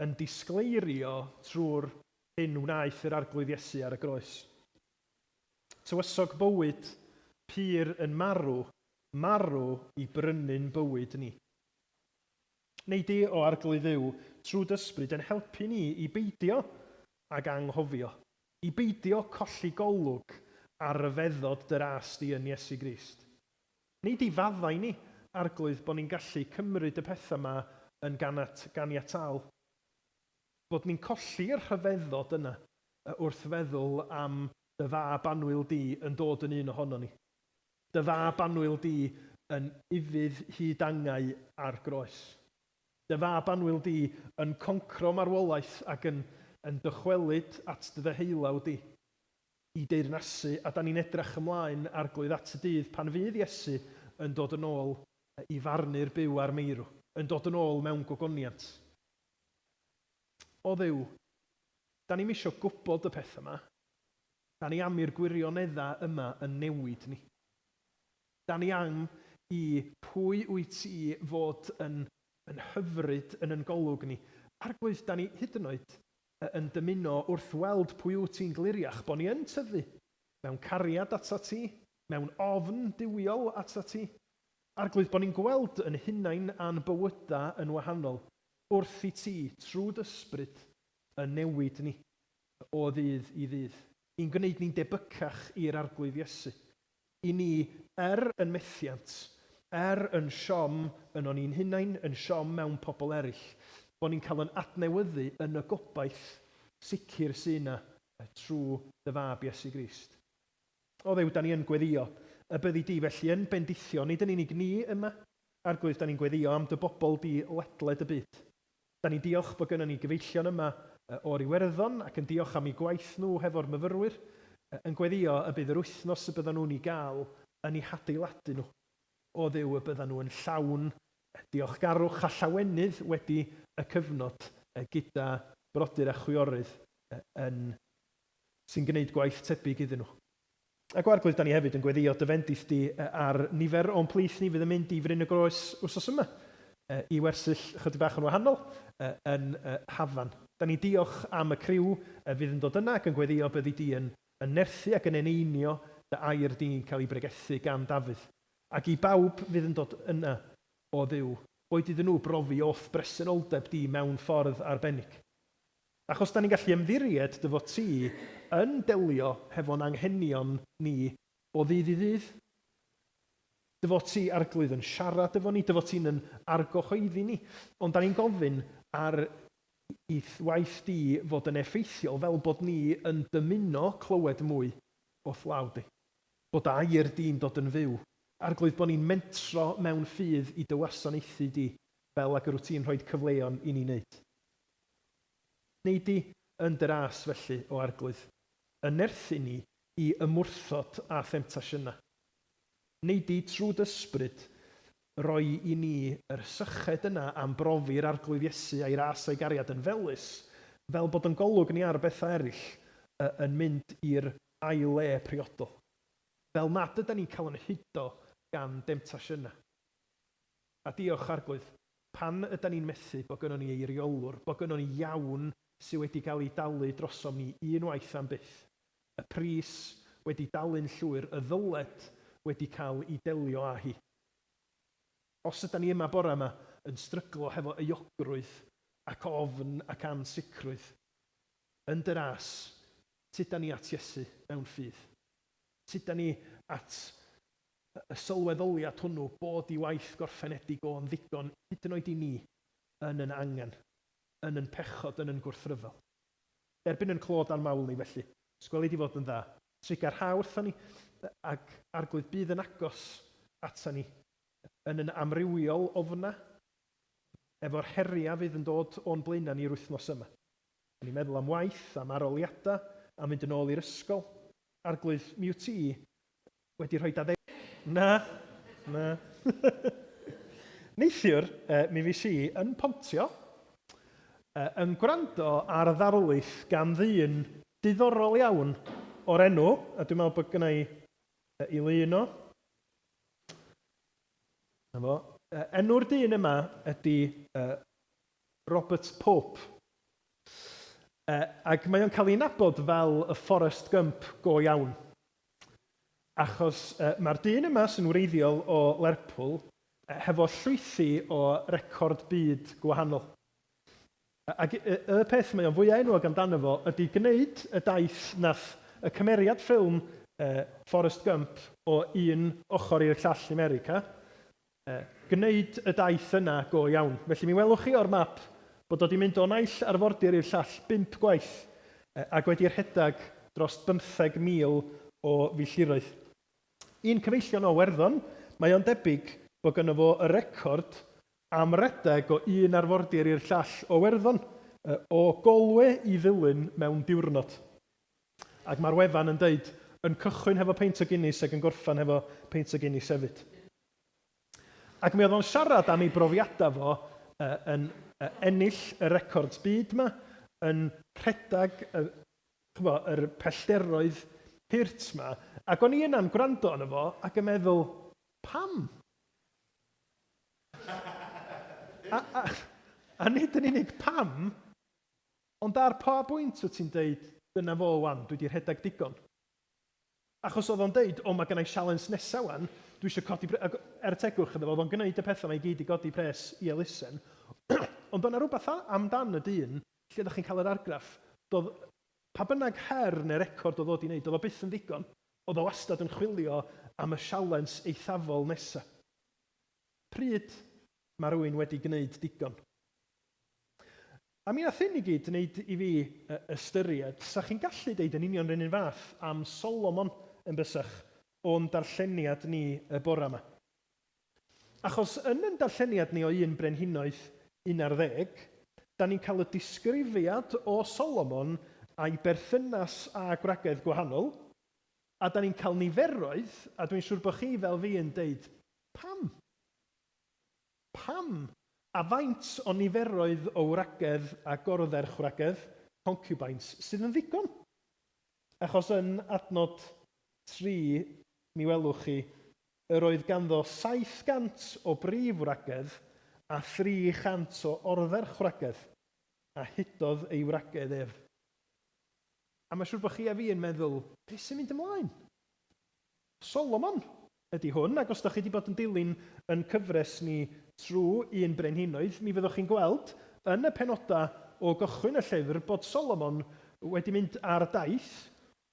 yn disgleirio trwy'r hyn wnaeth yr Arglwydd Iesu ar y groes. Tywysog bywyd pur yn marw, marw i brynu'n bywyd ni. Neu di o Arglwydd Dduw trwy dysbryd yn helpu ni i beidio ag anghofio, i beidio colli golwg ar ryfeddod dy ras di yn Iesu Grist. Nid i faddau ni, Arglwydd, bod ni'n gallu cymryd y pethau yma yn ganat, ganiataol. Bod ni'n colli y rhyfeddod yna wrth feddwl am Dy Fab annwyl Di yn dod yn un ohono ni. Dy Fab annwyl Di yn ufudd hyd angau ar groes. Dy Fab annwyl Di yn concro marwolaeth ac yn yn dychwelyd at Dy ddeheulaw Di. y deyrnasu, a da ni'n edrach ymlaen Arglwydd at y dydd pan fydd Iesu yn dod yn ôl i farnu'r byw a'r meirw, yn dod yn ôl mewn gogoniant. O Dduw, da ni'm isio gwybod y pethau yma, da ni am i'r gwirioneddau yma yn newid ni. Da ni am i Pwy wyt ti fod yn yn hyfryd yn yn golwg ni. Arglwydd, da ni hyd yn oed a yn dymuno wrth weld pwy wyt ti'n gliriach bo ni yn tyfu mewn cariad atat ti, mewn ofn duwiol atat ti. Arglwydd, bo ni'n gweld yn hunain a'n bywyda yn wahanol wrth i ti, trw d'ysbryd, yn newid ni o ddydd i ddydd, i'n gwneud ni'n debycach i'r Arglwydd Iesu, I ni, er yn methiant, er yn siom yno ni'n hunain, yn siom mewn pobl eraill, bo' ni'n cael yn adnewyddu yn y gobaith sicr sy' 'na trw dy fab Iesu Grist. O Dduw, 'dan ni yn gweddïo y byddi di felly yn bendithio, nid yn unig ni yma, Arglwydd, 'dan ni'n gweddïo am dy bobl di ledled y byd. Da ni'n diolch bod gynnon ni gyfeillion yma o'r Iwerddon ac yn diolch am eu gwaith nhw hefo'r myfyrwyr, yn gweddïo y bydd yr wythnos y byddan nhw'n ei gael yn eu hadeiladu nhw o Dduw y byddan nhw yn llawn diolchgarwch a llawenydd wedi y cyfnod gyda brodyr a chwiorydd yn sy'n gwneud gwaith tebyg iddyn nhw. Ac o Arglwydd, da ni hefyd yn gweddïo dy fendith di ar nifer o'n plith ni fydd yn mynd i Fryn y Groes wsos yma i wersyll ychydig bach yn wahanol yn y hafan. Da ni'n diolch am y criw fydd yn dod yna ac yn gweddïo byddi di yn yn nerthu ac yn eneinio dy air di'n cael ei bregethu gan Dafydd. Ac i bawb fydd yn dod yna, o Dduw, boed iddyn nhw brofi o'th bresenoldeb di mewn ffordd arbennig. Ac os 'da ni'n gallu ymddiried dy fod ti yn delio hefo'n anghenion ni o ddydd i ddydd, dy fod ti, Arglwydd, yn siarad efo ni, dy fod ti'n yn argyhoeddi ni, ond 'da ni'n gofyn ar i waith di fod yn effeithiol fel bod ni yn dymuno clywed mwy o'th law di. Bod dy air di'n dod yn fyw. Arglwydd, bod ni'n mentro mewn ffydd i dy wasanaethu di fel ag yr wyt ti'n rhoid cyfleon i ni 'neud. Neidi yn dras felly o Arglwydd, yn nerthu ni i ymwrthod â themtasiynau. Neidi trwy d'Ysbryd roi i ni yr syched yna am brofi'r Arglwydd Iesu a'i ras a'i gariad yn felys, fel bod yn golwg ni ar bethau eraill y yn mynd i'r ail le priodol. Fel nad ydan ni'n cael yn hudo gan demtasiynau. A diolch, Arglwydd, pan ydan ni'n methu bo' gynnon ni eiriolwr, bo' gynnon ni iawn sy' wedi ga'l 'i dalu drosom ni un waith am byth, y pris wedi dalu'n llwyr y ddyled wedi ca'l 'i delio â hi. Os ydan ni yma bore 'ma yn stryglo hefo euogrwydd ac ofn ac ansicrwydd, yn dy ras, tydan ni at Iesu mewn ffydd. Tydan ni at y sylweddoliad hwnnw bod ei waith gorffenedig o'n ddigon, hyd yn oed i ni, yn yn angen, yn yn pechod, yn yn gwrthryfel. Derbyn yn clo dan mawl ni, felly, os gweli di fod yn dda, triga rha wrtho ni, ag Arglwydd bydd yn agos ata ni yn yn amrywiol ofna efo'r heriau fydd yn dod o'n blaenau ni yr wythnos yma. O'n i'n meddwl am waith, am aroliadau, am fynd yn ôl i'r ysgol. Arglwydd, mi wyt ti, Wedi rhoi dadeu-? Na, na. Neithiwr, mi fues i yn Pontio, yn gwrando ar ddarlith gan ddyn diddorol iawn o'r enw, a dwi'n meddwl bod gynna i i lu yno. 'Na fo. Enw'r dyn yma ydy Robert Pope. Ac mae o'n cael ei nabod fel y Forrest Gump go iawn. Achos yy ma'r dyn yma sy'n wreiddiol o Lerpwl yy hefo llwythi o record byd gwahanol. Yy ag yy y peth mae o'n fwya enwog amdano fo ydi gneud y daith nath y cymeriad ffilm yy Forrest Gump o un ochor i'r llall i 'Merica, Yy, gwneud y daith yna go iawn. Felly mi welwch chi o'r map bod o 'di mynd o naill arfordir i'r llall bump gwaith, yy, ag wedi rhedag dros bymtheg mil o filltiroedd. I'n cyfeillion o Iwerddon, mae o'n debyg bo' gynno fo y record am redeg o un arfordir i'r llall o Iwerddon, yy, o Galway i Ddulyn mewn diwrnod. Ac ma'r wefan yn deud, yn cychwyn hefo peint o Guinness ag yn gorffan hefo peint o Guinness hefyd. Ac mi oedd o'n siarad am ei brofiadau fo yn ennill y records byd 'ma, yn rhedeg y, ch'bo', yr pellderoedd hurt 'ma. Ac o'n i yna'n gwrando arno fo ac yn meddwl, pam? A a a nid yn unig pam, ond ar pa bwynt wyt ti'n deud, dyna fo 'wan, dwi 'di rhedeg digon? Achos oedd o'n deud, o mae gynna i sialens nesa wan, dwi isio codi pres, ac er tegwch iddo fo, oedd o'n gneud y petha ma i gyd i godi pres i elusen. Ond oedd na rwbath am dan y dyn, lle dach chi'n cael yr argraff, doedd pa bynnag her neu record oedd o di neud, oedd o byth yn ddigon, oedd o wastad yn chwilio am y sialens eithafol nesa. Pryd ma rywun wedi gneud digon? A mi nath hyn i gyd neud i fi ystyried, sa chi'n gallu deud yn union run un fath am Solomon yn bysach, o'n darlleniad ni y bora ma. Achos yn yn darlleniad ni o un brenhinoedd un ar ddeg, da ni'n cael y disgrifiad o Solomon a'i berthynas â gwragedd gwahanol, a da ni'n cael niferoedd, a dwi'n siŵr bo chi fel fi yn deud, pam? Pam, a faint o niferoedd o wragedd a gorferchwragedd, concubines, sydd yn ddigon? Achos yn adnod tri, mi welwch chi, yr oedd ganddo 700 o brif wragedd a 300 o orferchwragedd, a hudodd ei wragedd ef. A mae'n siŵr bod chi a fi yn meddwl, Be sy'n mynd ymlaen? Solomon ydy hwn, ac os dach chi 'di bod yn dilyn yn cyfres ni trw un Brenhinoedd, mi fyddwch chi'n gweld yn y penoda o gychwyn y llyfr bod Solomon wedi mynd ar daith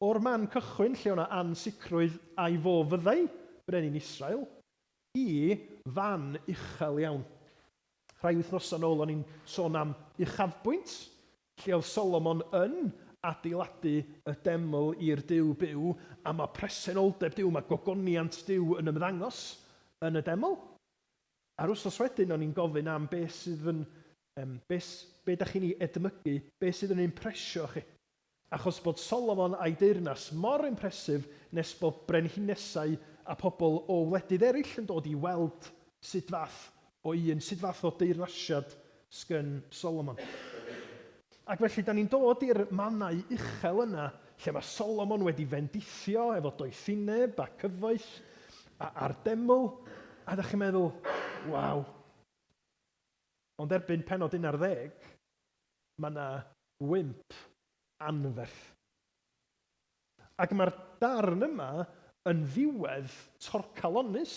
o'r man cychwyn lle o'na ansicrwydd ai fo fyddai Brenin Israel, i fan uchel iawn. Rhai wythnosa nôl o'n i'n sôn am uchafbwynt, Lle oedd Solomon yn adeiladu y deml i'r Duw byw, a mae presenoldeb Duw, mae gogoniant Duw yn ymddangos yn y deml. A'r wythnos wedyn o'n i'n gofyn am be sydd yn, um, be, be da chi'n ei edmygu, be sydd yn impresio chi. Achos bod Solomon a'i deyrnas mor impresif nes bod brenhinesau a pobl o wledydd eraill yn dod i weld sut fath O un, sut fath o deyrnasiad sgen Solomon? Ac felly, da ni'n dod i'r mannau uchel yna lle mae Solomon wedi fendithio efo doethineb a cyfoeth a, a'r deml, a da chi'n meddwl, waw. Ond erbyn pennod un ar ddeg, mae yna wymp anferth. Ac mae'r darn yma yn ddiwedd torcalonnus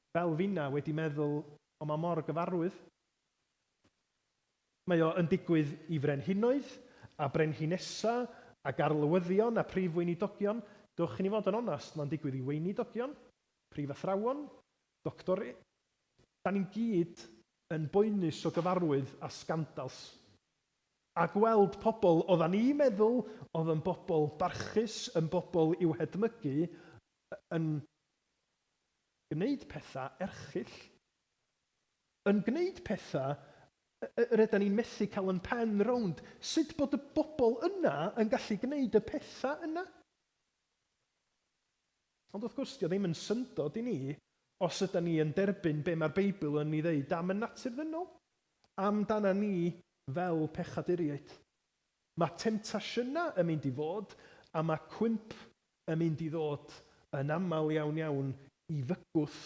Fel finna wedi meddwl o ma mor gyfarwydd. Mae o yn digwydd i frenhinoedd a brenhinesa a garlywyddion a prif weinidogion, dwch i ni fod yn onast ma'n digwydd i weinidogion, prif athrawon, doctori, da ni'n gyd yn boenus o gyfarwydd a sgandals. A gweld pobl odda ni meddwl odd yn bobl barchus yn bobl i'w hedmygu yn gwneud pethau erchyll. Yn gwneud pethau yr ydan ni'n methu cael yn pen rownd sut bod y bobl yna yn gallu gwneud y pethau yna. Ond wrth gwrs, 'di o ddim yn syndod i ni os ydan ni yn derbyn be mae'r Beibl yn ei ddeud am y natur ddynol, amdana ni fel pechaduriaid. Mae temtasiynau yn mynd i fod, a mae cwymp yn mynd i ddod yn aml iawn iawn i fygwth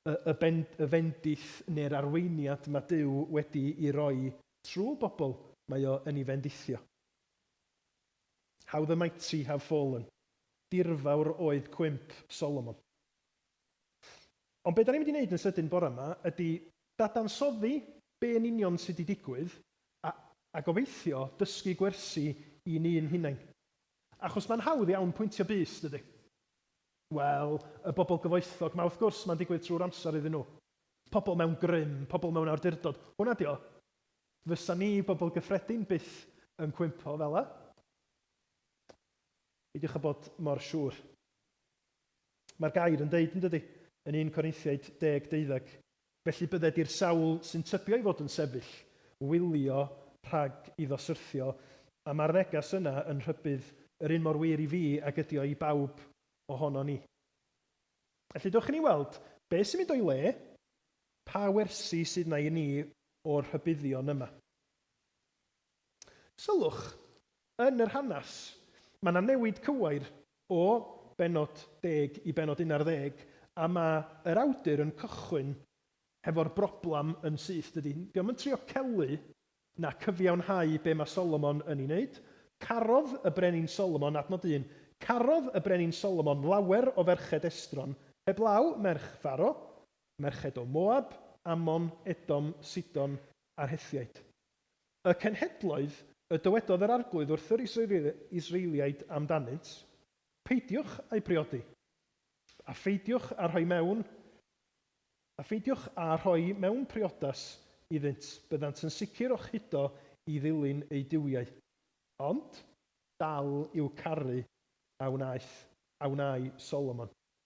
y, y, ben, y fendith neu'r arweiniad mae Duw wedi ei roi trwy bobl mae o yn ei fendithio. How the mighty have fallen. Dirfawr oedd cwymp Solomon. Ond be da ni'n mynd i wneud yn sydyn bore yma ydy dadansoddi be yn union sydd wedi digwydd a, a gobeithio dysgu gwersi i'n un hunain. Achos mae'n hawdd iawn pwyntio bys, dydy? Wel, y bobl gyfoethog 'ma, wrth gwrs, mae'n digwydd trwy'r amser iddyn nhw. Pobl mewn grym, pobl mewn awdurdod, hwnna 'di o. Fysa ni, bobl gyffredin, byth yn cwympo fel 'na. Peidiwch â bod mor siŵr. Mae'r gair yn deud, yn dydy, yn un Corinthiaid deg deuddeg, Felly bydde di'r sawl sy'n tybio ei fod yn sefyll wylio rhag iddo syrthio, a ma'r neges yna yn rhybudd yr un mor wir i fi ag ydi o i bawb ohonon ni. Felly dewch i ni weld be' sy'n mynd o'i le, pa wersi sydd 'na i ni o'r rhybuddion yma. Sylwch, yn yr hanes, mae 'na newid cywair o bennod deg i bennod un ar ddeg, a ma' yr awdur yn cychwyn hefo'r broblam yn syth, dydi? Dio'm yn trio celu na cyfiawnhau be' ma' Solomon yn 'i neud. Carodd y Brenin Solomon, adnod un, carodd y Brenin Solomon lawer o ferched estron, heblaw merch Pharo, merched o Moab, Ammon, Edom, Sidon, a'r Hethiaid. Y cenhedloedd, y dywedodd yr Arglwydd wrth yr Israeliaid amdanynt, peidiwch â'u priodi, a pheidiwch â rhoi mewn, a pheidiwch â rhoi mewn priodas iddynt, byddant yn sicr o'ch hudo i ddilyn eu duwiau. Ond dal i'w caru a wnaeth, a wnâi Solomon.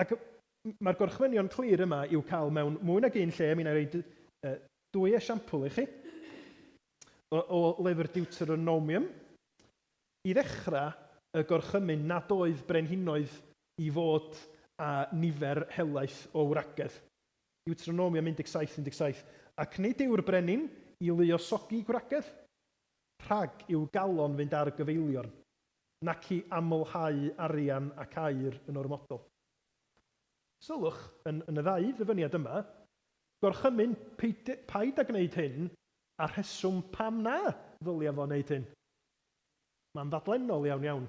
Ac mae'r gorchmynion clir yma i'w cael mewn mwy nag un lle, mi wna i roi dwy esiampl i chi o lyfr Deuteronomium. I ddechrau, y gorchymyn nad oedd brenhinoedd i fod â nifer helaeth o wragedd. Deuteronomium 17, 17, Ac nid yw'r brenin i luosogi gwragedd, rhag i'w galon fynd ar gyfeiliorn. nac i amlhau arian ac aer yn ormodol. Sylwch, yn yn y ddau ddyfyniad yma, gorchymyn peid paid â gwneud hyn a'r rheswm pam na ddylia fo wneud hyn. Mae'n ddadlennol iawn iawn.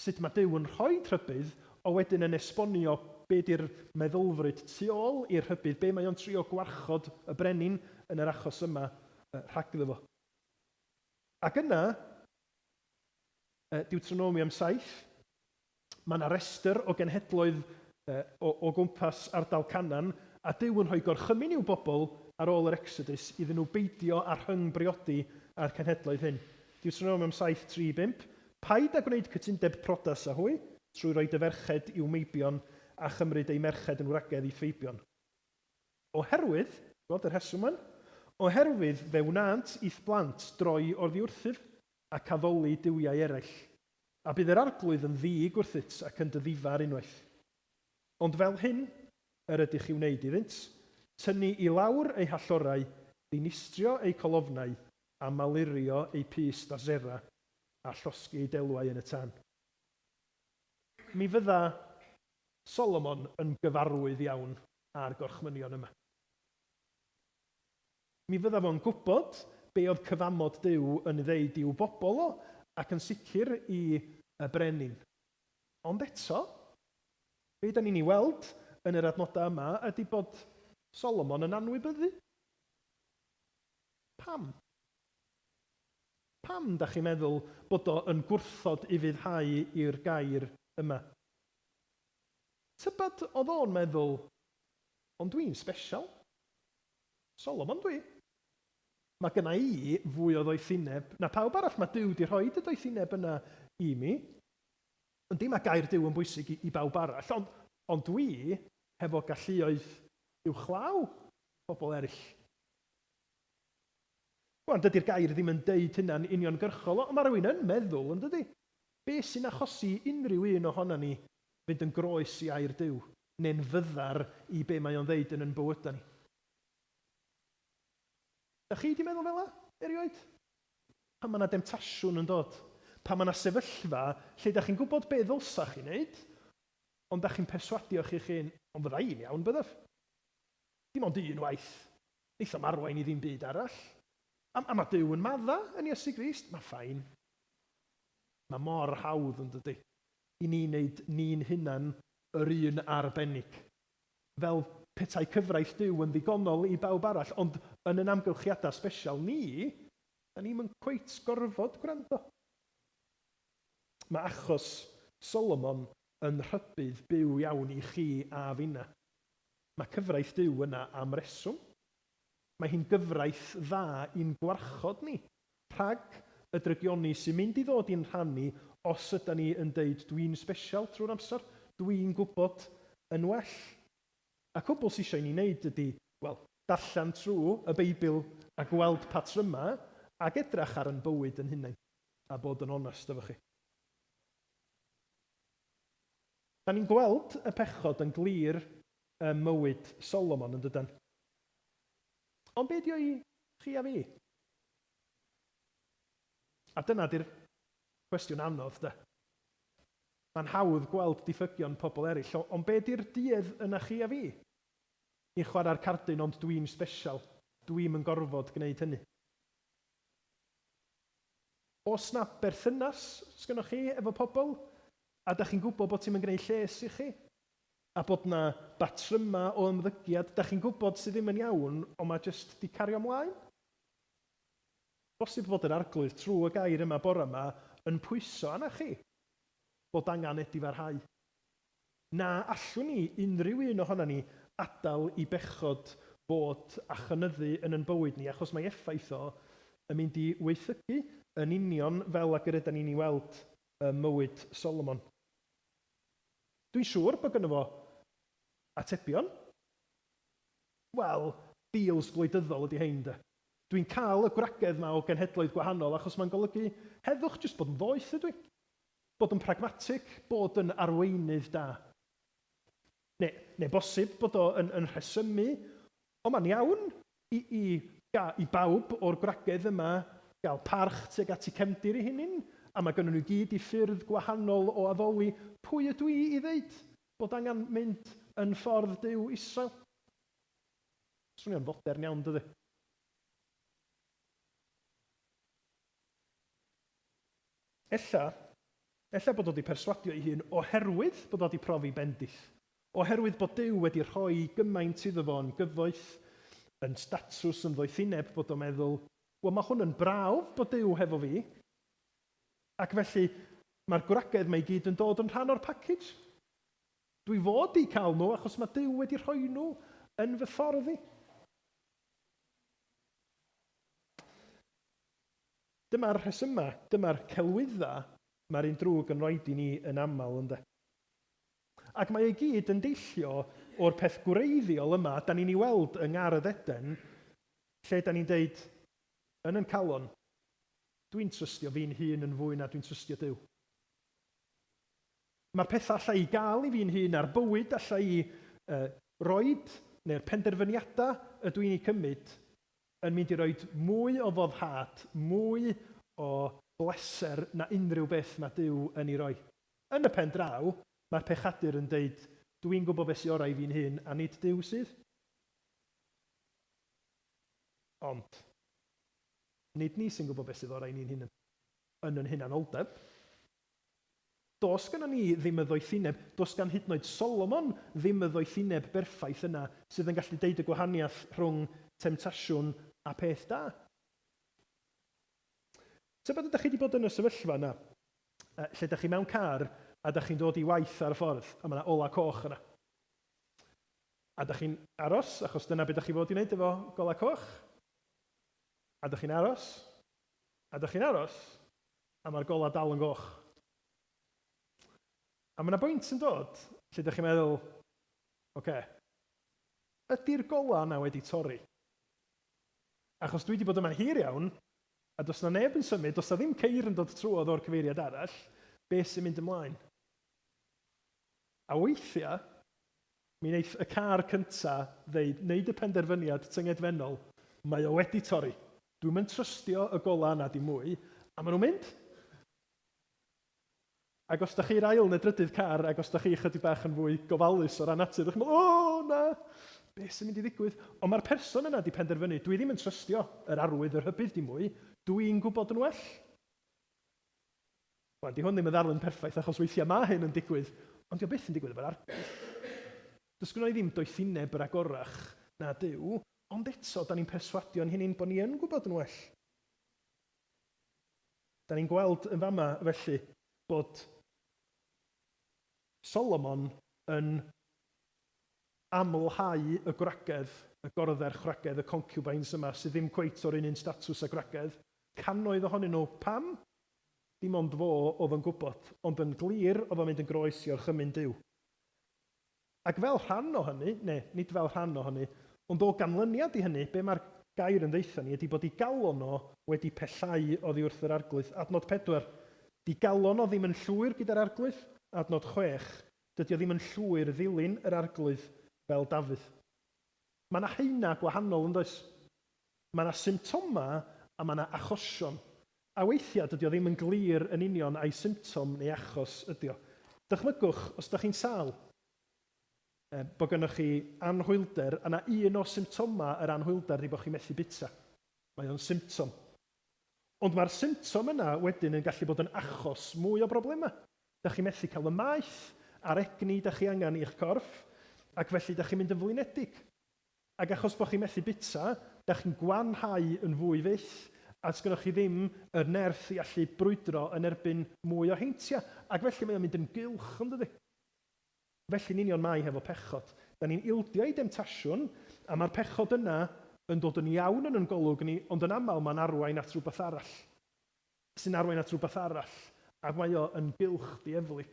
Sut mae Duw yn rhoi rhybudd, o wedyn yn esbonio be di'r meddylfryd tu ôl i'r rhybudd, be mae o'n trio gwarchod y brenin, yn yr achos yma, rhagddo fo. Ac yna, Yy, Deuteronomium 7, mae yna restr o genhedloedd yy, o, o gwmpas ardal Canan, a Duw yn rhoi gorchymyn i'w bobl ar ôl yr Exodus iddyn nhw beidio â rhyng-briodi â'r cenhedloedd hyn. Deuteronomium 7, 3, 5, Paid â gwneud cytundeb prodas â hwy, trwy roi dy ferched i'w meibion, a chymryd eu merched yn wragedd i Feibion. Oherwydd, gweld y rheswm yn. Oherwydd fe wnânt i'th blant droi oddiwrthyf, ac addoli duwiau eraill, a bydd yr Arglwydd yn ddig wrthyt ac yn dy ddifar unwaith. Ond fel hyn yr ydych i wneud iddynt, tynnu i lawr eu hallorau, dinistrio eu colofnau, a malurio eu pys da Sera, a llosgi eu delwau yn y tân. Mi fydda Solomon yn gyfarwydd iawn â'r gorchmynion yma. Mi fydda fo'n gwybod be oedd cyfamod Duw yn ddeud i'w bobl o, ac yn sicr i y brenin. Ond eto, be dan ni'n ei weld yn yr adnodau yma ydy bod Solomon yn anwybyddu. Pam? Pam dach chi'n meddwl bod o yn gwrthod ufuddhau i'r gair yma? Tybed oedd o'n meddwl, ond dwi'n sbesial. Solomon dwi. Mae gynna i fwy o ddoethineb na pawb arall, mae Duw 'di rhoid y doethineb yna i mi. Yndi, mae gair Duw yn bwysig i, i bawb arall, ond, ond dwi hefo galluoedd uwchlaw pobl eraill. Wan, dydi'r gair ddim yn deud hynna'n uniongyrchol, ond mae rhywun yn meddwl, yn dydi? Be sy'n achosi i unrhyw un ohonan ni fynd yn groes i Air Duw, neu'n fyddar i be mae o'n ddeud yn yn bywyda ni? Da chi di meddwl fela, erioed? Pan mae na demtasiwn yn dod, pan mae na sefyllfa lle da chi'n gwybod be ddylsa chi wneud, ond da chi'n perswadio chi'ch hun, ond fydda i'n iawn, byddaf? Dim ond un waith, Neith o'm arwain i ddim byd arall. A, a ma' Duw yn madda yn Iesu Grist, ma' fine. Ma' mor hawdd, yn dydi, i ni neud ni'n hunan yr un arbennig. Fel petai cyfraith Duw yn ddigonol i bawb arall, ond yn yn amgylchiada sbesial ni, 'da ni'm yn cweit gorfod gwrando. Ma' achos Solomon yn rhybudd byw iawn i chi a finna. Mae cyfraith Duw yna am reswm. Mae hi'n gyfraith dda i'n gwarchod ni rhag y drygioni sy'n mynd i ddod i'n rhan ni os ydan ni yn deud 'dwi'n sbesial' trwy'r amser, 'dwi'n gwybod yn well'. Y cwbl sy isio i ni wneud ydi, wel, darllen trwy y Beibl a gweld patrymau ac edrach ar yn bywyd yn hunain a bod yn onest efo chi. Dan ni'n gweld y pechod yn glir ym mywyd Solomon, yn dydan? Ond be' ydi o i chi a fi? A dyna 'di'r cwestiwn anodd, 'de? Mae'n hawdd gweld diffygion pobl eraill, o- ond be' ydi'r duedd yna chi a fi? Ni'n chwarae'r cardyn ond dwi'm sbesial, dwi'm yn gorfod gwneud hynny. Os na berthynas sgynnoch chi efo pobl, a da chi'n gwybod bod ti'm yn gneud lles i chi, a bod na batryma o ymddygiad da chi'n gwybod sydd ddim yn iawn ond ma jyst di cario mlaen? Bosib fod yr arglwydd trw y gair yma bora ma yn pwyso arna chi bod angan edifarhau. Na allwn ni, unrhyw un ohonan ni, adael i bechod fod a chynyddu yn yn bywyd ni, achos mae effaith o yn mynd i waethygu, yn union fel ag yr ydan ni'n ei weld ym mywyd Solomon. Dwi'n siŵr bod gynno fo atebion. Wel, deals gwleidyddol ydy hein, 'de. Dwi'n cael y gwragedd 'ma o genhedloedd gwahanol, achos mae'n golygu heddwch, jyst bod yn ddoeth ydw i. Bod yn pragmatig, bod yn arweinydd da. Neu, neu bosib bod o yn, yn rhesymu, O, mae'n iawn i, i, ga, i bawb o'r gwragedd yma gael parch tuag at eu cefndir eu hunain, a mae gynnon nhw i gyd eu ffyrdd gwahanol o addoli. Pwy ydw i i ddeud bod angen mynd yn ffordd Duw Israel? Swnio'n fodern iawn, dydi? Ella, ella bod o 'di perswadio ei hun oherwydd bod o 'di profi bendith. Oherwydd bod Duw wedi rhoi gymaint iddo fo yn gyfoeth, yn statws, yn ddoethineb, bod o'n meddwl, 'Wel, mae hwn yn brawf bod Duw hefo fi, ac felly mae'r gwragedd 'ma i gyd yn dod yn rhan o'r package. Dwi fod i cael nhw achos mae Duw wedi rhoi nhw yn fy ffordd i. Dyma'r rhesymau, dyma'r celwyddau mae'r un drwg yn rhoid i ni yn aml, ynde? Ac mae o i gyd yn deillio o'r peth gwreiddiol yma 'dan ni'n ei weld yng ngardd Eden, lle 'dan ni'n deud, yn yn calon, 'Dwi'n trystio fi'n hun yn fwy na dwi'n trystio Duw. Mae'r pethau alla i gael i fi'n hun a'r bywyd alla i yy roid, neu'r penderfyniadau ydw i'n eu cymryd, yn mynd i roi mwy o foddhad, mwy o bleser na unrhyw beth mae Duw yn ei roi. Yn y pen draw, mae'r pechadur yn deud, Dw i'n gwybod beth sy'n orau i fi'n hun, a nid Duw sydd. Ond, nid ni sy'n gwybod beth sydd orau i ni'n hun yn yn hunanoldeb. Does gynnon ni ddim y ddoethineb, does gan hyd yn oed Solomon ddim y ddoethineb berffaith yna sydd yn gallu deud y gwahaniaeth rhwng temtasiwn a peth da. Tybed ydych chi wedi bod yn y sefyllfa yna lle ydych chi mewn car a ydych chi'n dod i waith ar y ffordd a mae yna olau coch yna. A ydych chi'n aros achos dyna beth ydych chi fod i wneud efo golau coch. A ydych chi'n aros. A ydych chi'n aros. A mae'r golau dal yn goch. A mae 'na bwynt yn dod lle dych chi'n meddwl, ocê, ydy'r golau yna wedi torri? Achos dwi 'di bod yma'n hir iawn, a does 'na neb yn symud, does 'na ddim ceir yn dod trwodd o'r cyfeiriad arall, be sy'n mynd ymlaen? A weithiau, mi wneith y car cynta' ddeud, wneud y penderfyniad tyngedfennol, 'mae o wedi torri'. Dwi'm yn trystio y golau yna dim mwy. A maen nhw'n mynd! Ac os dach chi i'r ail neu drydydd car, ac os dach chi ychydig bach yn fwy gofalus o ran natur, dach chi'n meddwl, O, na! Be sy'n mynd i ddigwydd? Ond mae'r person yna 'di penderfynu, Dwi ddim yn trystio yr arwydd, y rhybudd dim mwy. Dw i'n gwybod yn well. Wan, 'di hwn ddim yn ddarlun perffaith achos weithiau mae hyn yn digwydd, ond 'di o byth yn digwydd efo'r arglwydd. Does gynno ni ddim doethineb yr agorach na Duw. Ond eto, da ni'n perswadio ein hunain bod ni yn gwybod yn well. Da ni'n gweld yn fama, felly, bod Solomon yn amlhau y gwragedd, y gorddferch wragedd, y concubines yma, sydd ddim cweit o'r un un statws â gwragedd, cannoedd ohonyn nhw. Pam? Dim ond fo oedd yn gwybod, ond yn glir oedd o'n mynd yn groes i orchymyn Duw. Ac fel rhan o hynny, neu nid fel rhan o hynny, ond o ganlyniad i hynny, be mae'r gair yn ddeutha ni ydy bod digalon o wedi pellhau oddi wrth yr Arglwydd. Adnod pedwar. Digalon o ddim yn llwyr gyda'r Arglwydd. Adnod chwech. Dydy o ddim yn llwyr ddilyn yr Arglwydd fel Dafydd. Mae 'na haenau gwahanol, yn does? Mae yna symptomau a mae yna achosion. A weithiau dydy o ddim yn glir yn union ai symptom neu achos ydy o. Dychmygwch, os ydych chi'n sâl, bod gennych chi anhwylder a mae un o symptomau yr anhwylder ydy bod chi'n methu bwyta. Mae o'n symptom. Ond mae'r symptom yna wedyn yn gallu bod yn achos mwy o broblemau. Dych chi'n methu cael y maeth a'r egni dych chi angen i'ch corff ac felly dych chi'n mynd yn flinedig. Ac achos bod chi'n methu bwyta, dach chi'n gwanhau yn fwy fyth, a sgynnoch chi ddim yr nerth i allu brwydro yn erbyn mwy o heintiau. Ac felly mae o'n mynd yn gylch, yn dydi? Felly'n union mae hefo pechod. Da ni'n ildio i demtasiwn, a mae'r pechod yna yn dod yn iawn yn yn golwg ni, ond yn aml mae'n arwain at rywbeth arall, sy'n arwain at rywbeth arall, ac mae o yn gylch dieflig.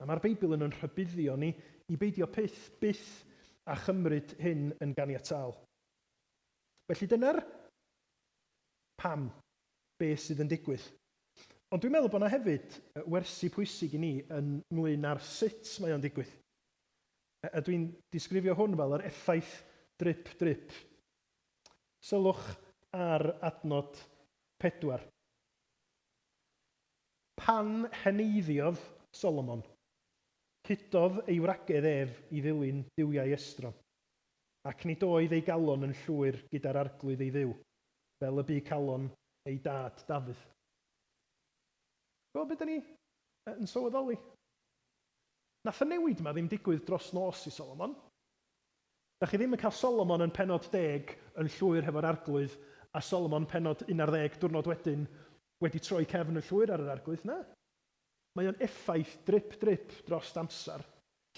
A mae'r Beibl yn yn rhybuddio ni i beidio peth, byth, â chymryd hyn yn ganiataol. Felly dyna'r pam, beth sydd yn digwydd. Ond dwi'n meddwl bod yna hefyd wersi pwysig i ni ynglŷn â'r sut mae o'n digwydd. A dwi'n disgrifio hwn fel yr effaith drip drip. Sylwch ar adnod pedwar. Pan heneiddiodd Solomon, cludodd ei wragedd ef i ddilyn duwiau estron, ac nid oedd ei galon yn llwyr gyda'r Arglwydd ei Dduw, fel y bu calon ei dad Dafydd. Gweld be' 'dan ni yn sylweddoli? Nath y newid 'ma ddim digwydd dros nos i Solomon. 'Dach chi ddim yn cael Solomon yn pennod deg yn llwyr hefo'r Arglwydd a Solomon pennod un ar ddeg diwrnod wedyn Wedi troi cefn yn llwyr ar yr Arglwydd na. Mae o'n effaith drip drip drost amser.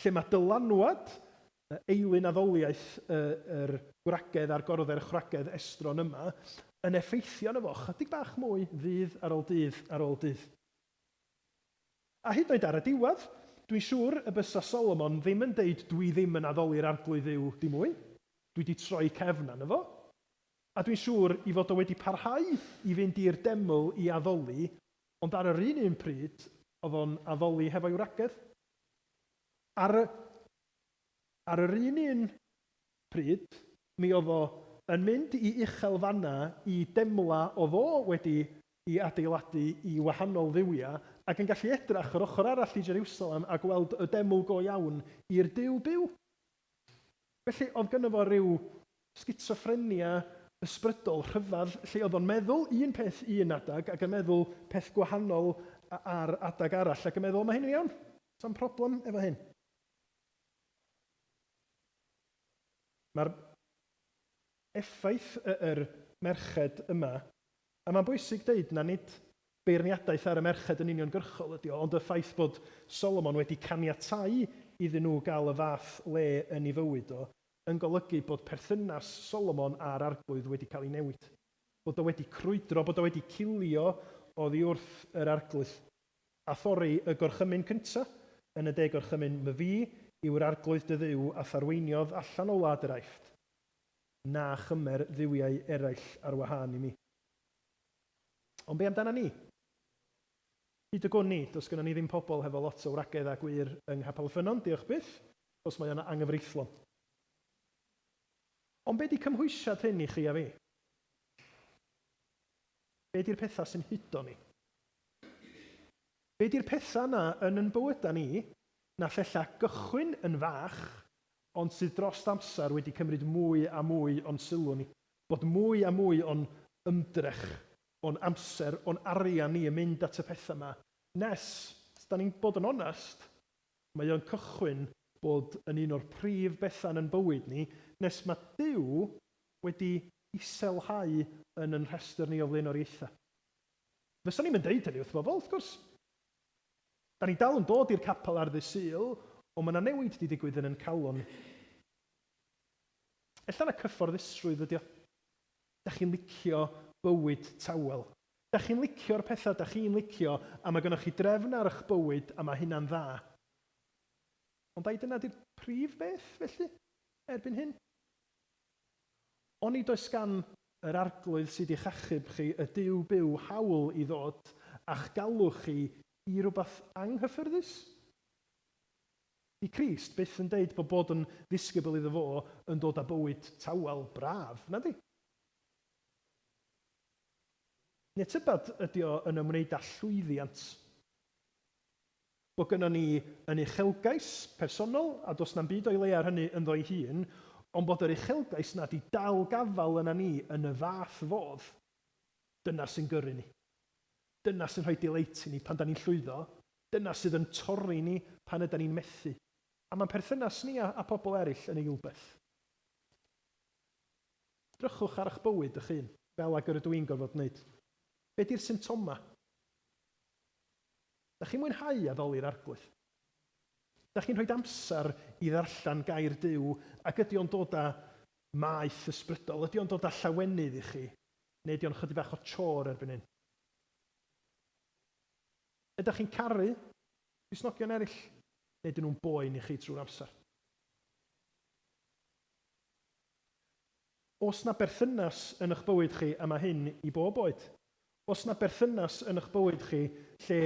Lle mae dylanwad y eilun addoliaeth y yr gwragedd a'r gorddder chwragedd estron yma yn effeithio arno fo chydig bach mwy ddydd ar ol dydd ar ol dydd. A hyd yn oed ar y diwadd, dwi'n siŵr y bysa Solomon ddim yn deud dwi ddim yn addoli'r Arglwydd Dduw dim mwy, dwi di troi cefn arno fo. A dwi'n siŵr ei fod o wedi parhau i fynd i'r deml i addoli, ond ar yr un un pryd, oedd o'n addoli hefo'i wragedd. Ar y, ar yr un un pryd, mi oedd o yn mynd i uchel fanna i demla oedd o wedi i adeiladu i wahanol dduwiau, ac yn gallu edrach yr ochr arall i Jerusalem a gweld y deml go iawn i'r Duw byw. Felly, oedd gynno fo ryw sgitsoffrenia ysbrydol rhyfedd lle oedd o'n meddwl un peth un adeg ac yn meddwl peth gwahanol ar adeg arall ac yn meddwl, 'Mae hyn yn iawn, sa'm problem efo hyn. Mae'r effaith yr merched yma A mae'n bwysig deud na nid beirniadaeth ar y merched yn uniongyrchol ydy o, ond y ffaith bod Solomon wedi caniatáu iddyn nhw gael y fath le yn ei fywyd o, yn golygu bod perthynas Solomon â'r Arglwydd wedi cael ei newid. Bod o wedi crwydro, bod o wedi cilio oddi wrth yr Arglwydd. A thorri y gorchymyn cynta yn y De Gorchymyn, 'Myfi yw'r Arglwydd dy Dduw a tharweiniodd allan o wlad yr Aifft. na chymer dduwiau eraill ar wahân i mi. Ond be amdanon ni? Hyd y gwn i, does gynnon ni ddim pobl hefo lot o wragedd a gwŷr yng Nghapel y Ffynnon, diolch byth, achos mae o'n anghyfreithlon. Ond be 'di cymhwysiad hyn i chi a fi? Be 'di'r pethau sy'n hudo ni? Be 'di'r pethau 'na yn yn bywyda ni, nath ella gychwyn yn fach, ond sydd dros amser wedi cymryd mwy a mwy o'n sylw ni, bod mwy a mwy o'n ymdrech, o'n amser, o'n arian ni yn mynd at y pethau 'ma, nes, os 'da ni'n bod yn onest, mae o'n cychwyn bod yn un o'r prif bethau yn yn bywyd ni, nes mae Duw wedi iselhau yn yn rhestr ni o flaenoriaethau. Fysa ni'm yn deud hynny wrth bobl, wrth gwrs. Da ni dal yn dod i'r capel ar ddy Sul, ond ma na newid di digwydd yn yn calon. Ella na cyfforddusrwydd ydi o. Da chi'n licio bywyd tawel. Da chi'n licio'r petha da chi'n licio a ma gynnoch chi drefn ar ych bywyd a ma hynna'n dda. Ond ai dyna di'r prif beth felly erbyn hyn? Onid oes gan yr Arglwydd sydd i'ch achub chi, y Duw byw, hawl i ddod â'ch galw chi i rywbeth anghyffyrddus? 'Di Crist byth yn deud bod bod yn ddisgybl iddo fo yn dod â bywyd tawel braf, nadi? Neu tybed ydy o yn ymwneud â llwyddiant? Mae gynnon ni yn uchelgais personol, a does na'm byd o'i le ar hynny ynddo ei hun, ond bod yr uchelgais 'na 'di dal gafael yna ni yn y fath fodd, dyna sy'n gyrru ni. Dyna sy'n rhoi delight i ni pan 'dan ni'n llwyddo, dyna sydd yn torri ni pan ydan ni'n methu. A mae'n perthynas ni â pobl eraill yn eilbeth. Drychwch ar 'ych bywyd 'ych hun, fel ag yr ydw i'n gorfod 'neud. Be 'di'r symptomau? Dach chi'n mwynhau addoli'r Arglwydd? Dach chi'n rhoid amser i ddarllen Gair Duw, ac ydy o'n dod â maeth ysbrydol? Ydy o'n dod â llawenydd i chi, neu ydy o'n ychydig bach o chore erbyn hyn? Ydach chi'n caru Cristnogion eraill, neu ydyn nhw'n boen i chi trwy'r amser? Oes 'na berthynas yn y'ch bywyd chi, a mae hyn i bob oed, oes 'na berthynas yn y'ch bywyd chi lle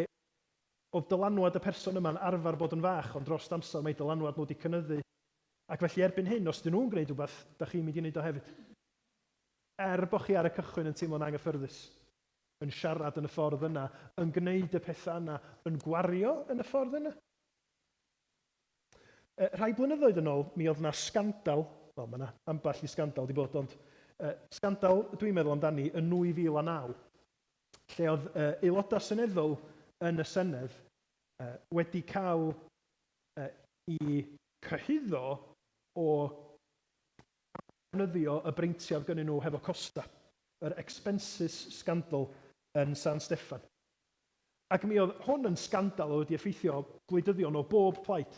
oedd dylanwad y person yma'n arfer bod yn fach ond drost amser mae dylanwad nhw 'di cynyddu ac felly erbyn hyn os 'dyn nhw'n gwneud rhywbeth, dach chi'n mynd i wneud o hefyd? Er bo' chi ar y cychwyn yn teimlo'n anghyffyrddus, yn siarad yn y ffordd yna, yn gwneud y petha yna, yn gwario yn y ffordd yna? Yy, rhai blynyddoedd yn ôl, mi oedd 'na sgandal, wel, mae 'na ambell i sgandal 'di bod, ond yy, sgandal dwi'n meddwl amdani yn 2009, lle oedd yy, aelodau seneddol yn y Senedd yy, wedi cael yy, i cyhuddo o ddefnyddio y breintiau oedd gynnyn nhw hefo costa, yr expenses scandal yn San Steffan. Ac mi oedd hwn yn sgandal oedd wedi effeithio gwleidyddion o bob plaid.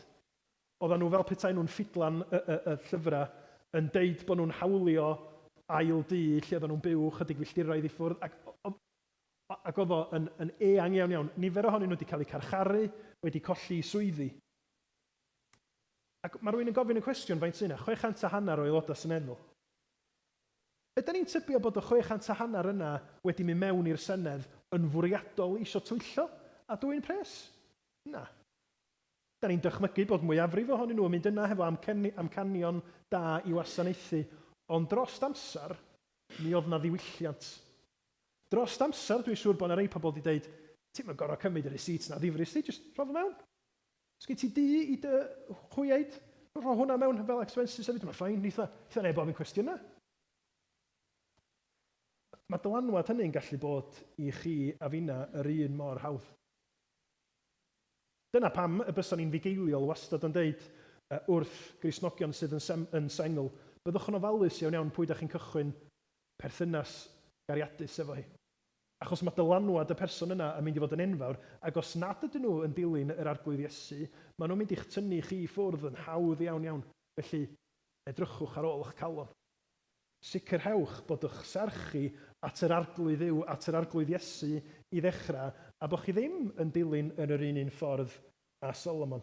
Oeddan nhw fel petai nhw'n ffidlan y y y llyfrau yn deud bod nhw'n hawlio ail du lle oeddan nhw'n byw chydig filltiroedd i ffwrdd ac oedd ac oedd o yn yn eang iawn iawn. Nifer ohonyn nhw wedi cael eu carcharu, wedi colli eu swyddi. Ac mae rhywun yn gofyn y cwestiwn faint sy' 'na? Chwe chant a hanner o aelodau seneddol. Ydan ni'n tybio bod y chwe chant a hanner yna wedi mynd mewn i'r Senedd yn fwriadol isio twyllo a dwyn pres? Na. Ydan ni'n dychmygu bod mwyafrif ohonyn nhw yn mynd yna hefo amcanion da i wasanaethu, ond drost amser, mi oedd 'na ddiwylliant. Drost amser, dwi'n siŵr bod 'na rei pobl 'di deud, 'ti'm yn gorfod cymryd y receipts 'na ddifrist di, jyst rho fo mewn. Sgen ti du i dy chwioed? Rho hwnna mewn fel expenses hefyd, mae'n fine, neitha, neitha neb ofyn cwestiynau. Mae'r dylanwad hynny'n gallu bod i chi a finna yr un mor hawdd. Dyna pam y bysan ni'n fugeiliol wastad yn deud wrth Gristnogion sydd yn sem- yn sengl, byddwch yn ofalus iawn iawn pwy 'da chi'n cychwyn perthynas gariadus efo hi. Achos mae dylanwad y person yna yn mynd i fod yn enfawr, ac os nad ydyn nhw yn dilyn yr Arglwydd Iesu, maen nhw'n mynd i'ch tynnu chi i ffwrdd yn hawdd iawn, iawn. Felly, edrychwch ar ôl eich calon. Sicrhewch bod eich serch chi at yr Arglwydd yw at yr Arglwydd Iesu i ddechrau, a bod chi ddim yn dilyn yn yr un un ffordd â Solomon.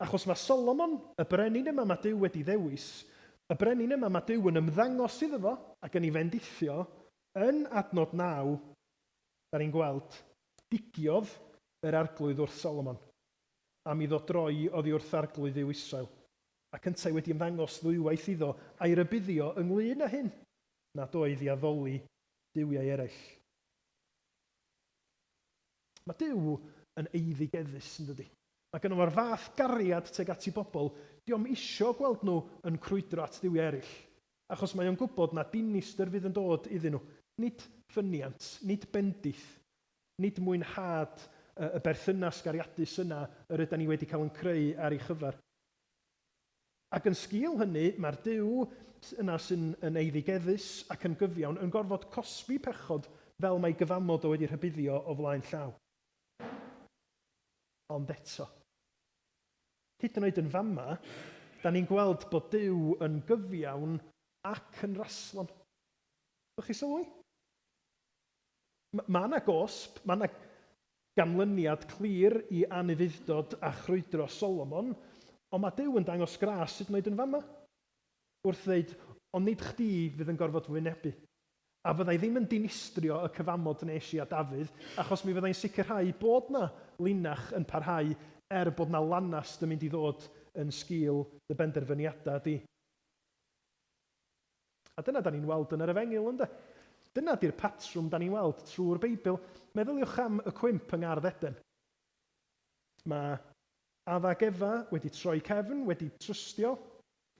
Achos mae Solomon, y brenin yma mae Duw wedi ddewis, y brenin yma mae Duw yn ymddangos iddo fo ac yn ei fendithio, yn adnod naw, da ni'n gweld, Digiodd yr arglwydd wrth Solomon, am iddo droi oddi wrth arglwydd Dduw Israel, ac yntau wedi ymddangos ddwywaith iddo, a'i rybuddio ynglŷn â hyn, nad oedd i addoli duwiau eraill. Mae Duw yn eiddigeddus, yndydi? Mae gynno fo'r fath gariad tuag at 'i bobl, dio'm isio gweld nhw yn crwydro at dduwiau eraill, achos mae o'n gwybod na dinistr fydd yn dod iddyn nhw, nid ffyniant, nid bendith, nid mwynhad y berthynas gariadus yna yr ydan ni wedi cael yn creu ar ei chyfer. Ac yn sgil hynny, mae'r Duw yna sy'n yn eiddigeddus ac yn gyfiawn yn gorfod cosbi pechod fel mai gyfamod o wedi rhybuddio o flaen llaw. Ond eto. Hyd yn oed yn fama, da ni'n gweld bod Duw yn gyfiawn ac yn raslon. Ydych chi sylwi? Mae 'na gosb, mae 'na ganlyniad clir i anufudd-dod a chrwydro Solomon, ond mae Duw yn dangos gras hyd yn oed yn fan'na, wrth ddeud, Ond nid chdi fydd yn gorfod fy wynebu. A fydda i ddim yn dinistrio y cyfamod wnes i â Dafydd, achos mi fydda i'n sicrhau bod 'na linach yn parhau, er bod 'na lanast yn mynd i ddod yn sgil dy benderfyniadau di. A dyna 'da ni'n weld yn yr Efengyl, ynde? Dyna 'di'r patrwm 'da ni'n weld trwy'r Beibl. Meddyliwch am y cwymp yng ngardd Eden. Mae Adda ac Efa wedi troi cefn, wedi trystio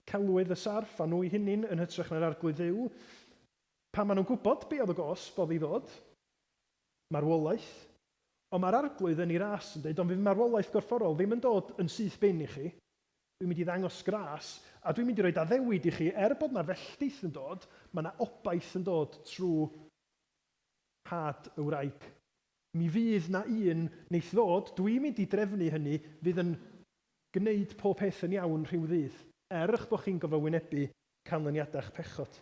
celwydd y sarff a nhw'u hunin yn hytrach na'r Arglwydd Dduw. Pam? Maen nhw'n gwybod be oedd y gosb oedd i ddod. Marwolaeth. Ond mae'r Arglwydd yn ei ras yn deud, ond fydd marwolaeth gorfforol ddim yn dod yn syth bin i chi. Dwi'n mynd i ddangos gras, a dwi'n mynd i roid addewid i chi, er bod 'na felltith yn dod, ma' 'na obaith yn dod trw nhad y wraig. Mi fydd 'na un neith ddod, dwi'n mynd i drefnu hynny, fydd yn gneud pob peth yn iawn rhyw ddydd, er 'ych bo' chi'n gofo wynebu canlyniada'ch pechod.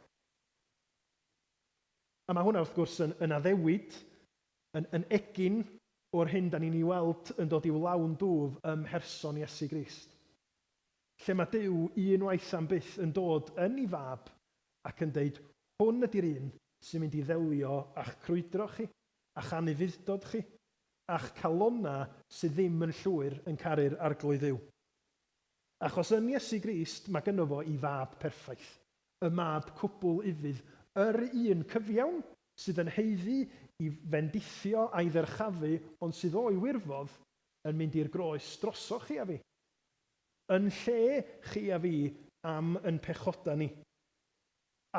A ma' hwnna wrth gwrs yn yn addewid Yn yn egin o'r hyn da ni'n i weld yn dod i'w lawn dwf ym mherson Iesu Grist. Lle mae Duw un waith am byth yn dod yn i fab ac yn deud hwn ydi'r un sy'n mynd i ddelio a'ch crwydro chi, a'ch anufudd-dod chi, a'ch calonna sydd ddim yn llwyr yn caru'r Arglwydd Dduw. Achos yn Iesu Grist mae gynno fo i fab perffaith. Y mab cwbl ufudd, yr un cyfiawn, sydd yn haeddu i fendithio a'i ddyrchafu ond sydd o'i wirfodd yn mynd i'r groes drosoch chi a fi. Yn lle chi a fi am yn pechoda ni.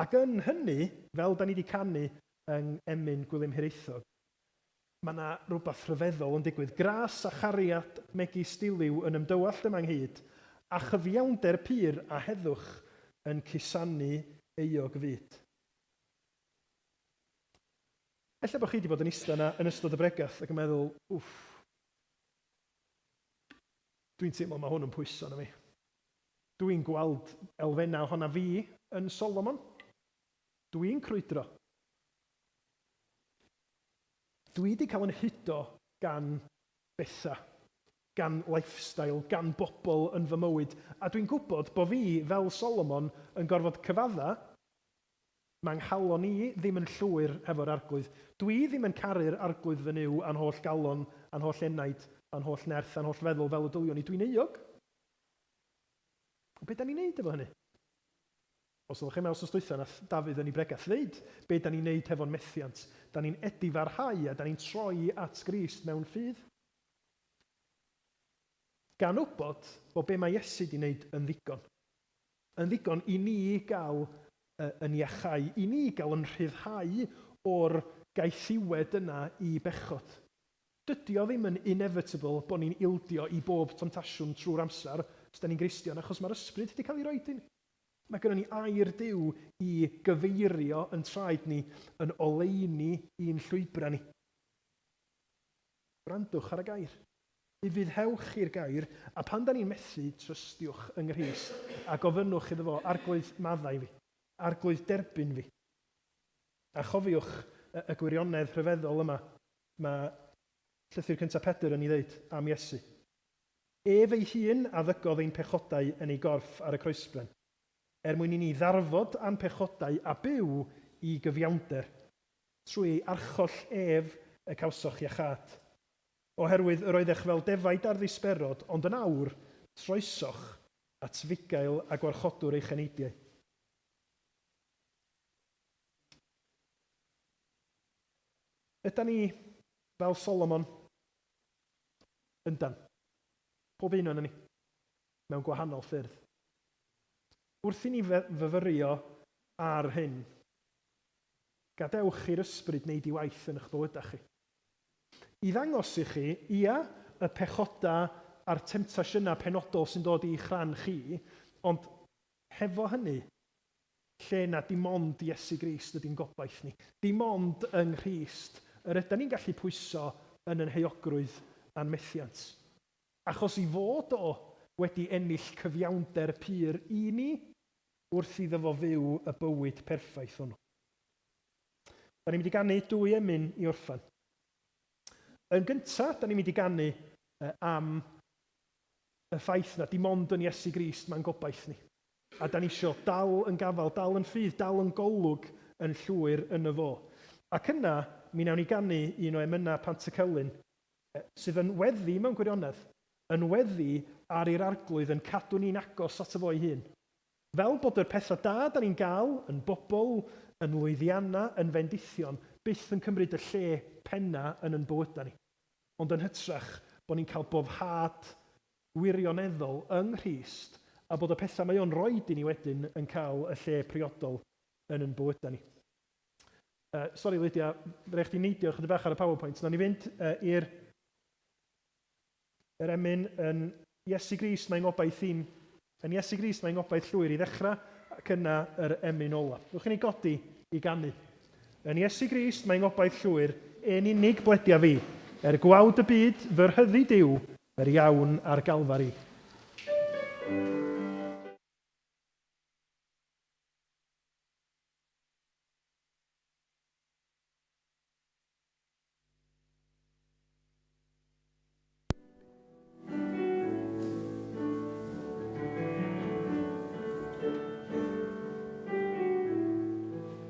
Ac yn hynny, fel da ni di canu yng Emyn Gwilym Hiraethog, Mae 'na rywbeth rhyfeddol yn digwydd. Gras a chariad megis diliw yn ymdywallt yma ynghyd â chyfiawnder pur a heddwch yn cusanu euog fyd. Ella bod chi 'di bod yn ista yna yn ystod y bregeth ac yn meddwl, 'Wff, dwi'n teimlo mae hwn yn pwyso arna fi. Dwi'n gweld elfennau ohona fi yn Solomon. Dwi'n crwydro. Dwi 'di cael yn hudo gan betha, gan lifestyle, gan bobl yn fy mywyd, a dwi'n gwybod bo fi, fel Solomon, yn gorfod cyfadda, ma' nghalon i ddim yn llwyr hefo'r Arglwydd. Dwi ddim yn caru'r Arglwydd fy Nuw a'n holl galon, a'n holl enaid, a'n holl nerth, a'n holl feddwl fel y dyliwn i. Dwi'n euog. Ond be' 'dan ni'n neud efo hynny? Os oddech yma wsnos dwytha nath Dafydd yn i bregeth ddeud be da ni'n neud hefo'n methiant, da ni'n edifarhau a da ni'n troi at Grist mewn ffydd. Gan wbod bo be ma Iesu di neud yn ddigon. Yn ddigon i ni gal yn iachau, i ni gal yn rhyddhau o'r gaethiwed yna i bechod. Dydi o ddim yn inevitable bo ni'n ildio i bob tomtasiwn trw'r amsar os da ni'n Gristion achos ma'r Ysbryd di cal i roid in Mae gynnon ni air Duw i gyfeirio yn traed ni yn oleuni i'n llwybrau ni. Gwrandwch ar y gair. Ufuddhewch i'r gair, a pan da ni'n methu, trystiwch yng Nghrist a gofynnwch iddo fo, Arglwydd, maddau fi. Arglwydd, derbyn fi. A chofiwch y, y gwirionedd rhyfeddol yma, mae Llythyr Cyntaf Pedr yn ei ddeud am Iesu. Ef ei hun a ddygodd ein pechodau yn ei gorff ar y croesben, er mwyn i ni ddarfod â'n pechodau a byw i gyfiawnder. Trwy ei archoll ef y cawsoch iachâd. Oherwydd yr oeddech fel defaid ar ddisberod, ond yn awr, troesoch at fugail a gwarchodwr eich eneidiau. Ydan ni fel Solomon? Yndan. Pob un onon ni. Mewn gwahanol ffyrdd. Wrth i ni fyfyrio ar hyn, gadewch i'r Ysbryd wneud i waith yn 'ych bywydau chi. I ddangos i chi, ia, y pechodau a'r temtasiynau penodol sy'n dod i'ch rhan chi, ond hefo hynny, lle na dim ond Iesu Grist ydy'n gobaith ni. Dim ond yng Nghrist yr ydan ni'n gallu pwyso yn yn heuogrwydd a'n methiant. Achos ei fod o wedi ennill cyfiawnder pur i ni, wrth iddo fo fyw y bywyd perffaith hwnnw. Da ni'n mynd i ganu dwy emyn i orffan. Yn gynta, da ni'n mynd i ganu am y ffaith na dim ond yn Iesu Grist mae'n gobaith ni. A 'dan ni isio dal yn gafal, dal yn rhydd, dal yn golwg yn llwyr yno fo. Ac yna, mi newn ni ganu un o emynau Pantycelyn, sydd yn weddi, mewn gwirionedd, yn weddi ar i'r Arglwydd yn cadw ni'n agos ato fo'i hun. Fel bod yr petha da 'dan ni'n ga'l, yn bobl, yn lwyddianna, yn fendithion, byth yn cymryd y lle penna yn yn bywyda ni. Ond yn hytrach, bo' ni'n ca'l boddhad gwirioneddol yng Nghrist a bod y pethau mae o'n roid i ni wedyn yn cael y lle priodol yn yn bywydau ni. Uh, sorry Lydia, rhaid chdi neidio chydig bach ar y PowerPoint. Na ni fynd uh, i'r yr emyn yn Iesu Grist mae'n ngobaith i'n yn Iesu Grist mae'n ngobaith llwyr i ddechrau ac yna yr emyn ola. Rwy'n chi'n ei godi i ganu. Yn Iesu Grist mae'n ngobaith llwyr, yn unig bledia fi. Er gwawd y byd, fy rhyddid yw, Yr Iawn ar Galfari.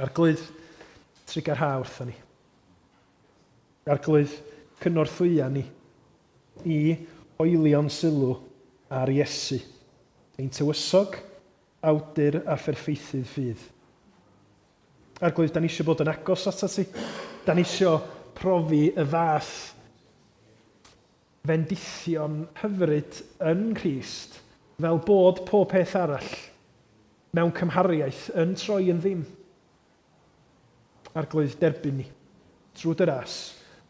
Arglwydd, trigarha wrtho ni. Arglwydd, cynorthwya ni i hoelio'n sylw ar Iesu, ein tywysog, awdur a pherffeithydd ffydd. Arglwydd, da ni eisiau bod yn agos atat ti. Da ni eisiau profi y fath fendithion hyfryd yn Nghrist, fel bod pob peth arall, mewn cymhariaeth, yn troi yn ddim. Arglwydd, derbyn ni, trwy dy ras,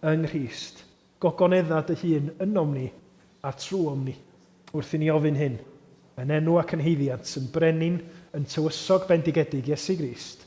yng Nghrist, gogonedda dy hun ynom ni a trwom ni, wrth i ni ofyn hyn, yn enw ac yn haeddiant yn brenin, yn tywysog bendigedig Iesu Grist.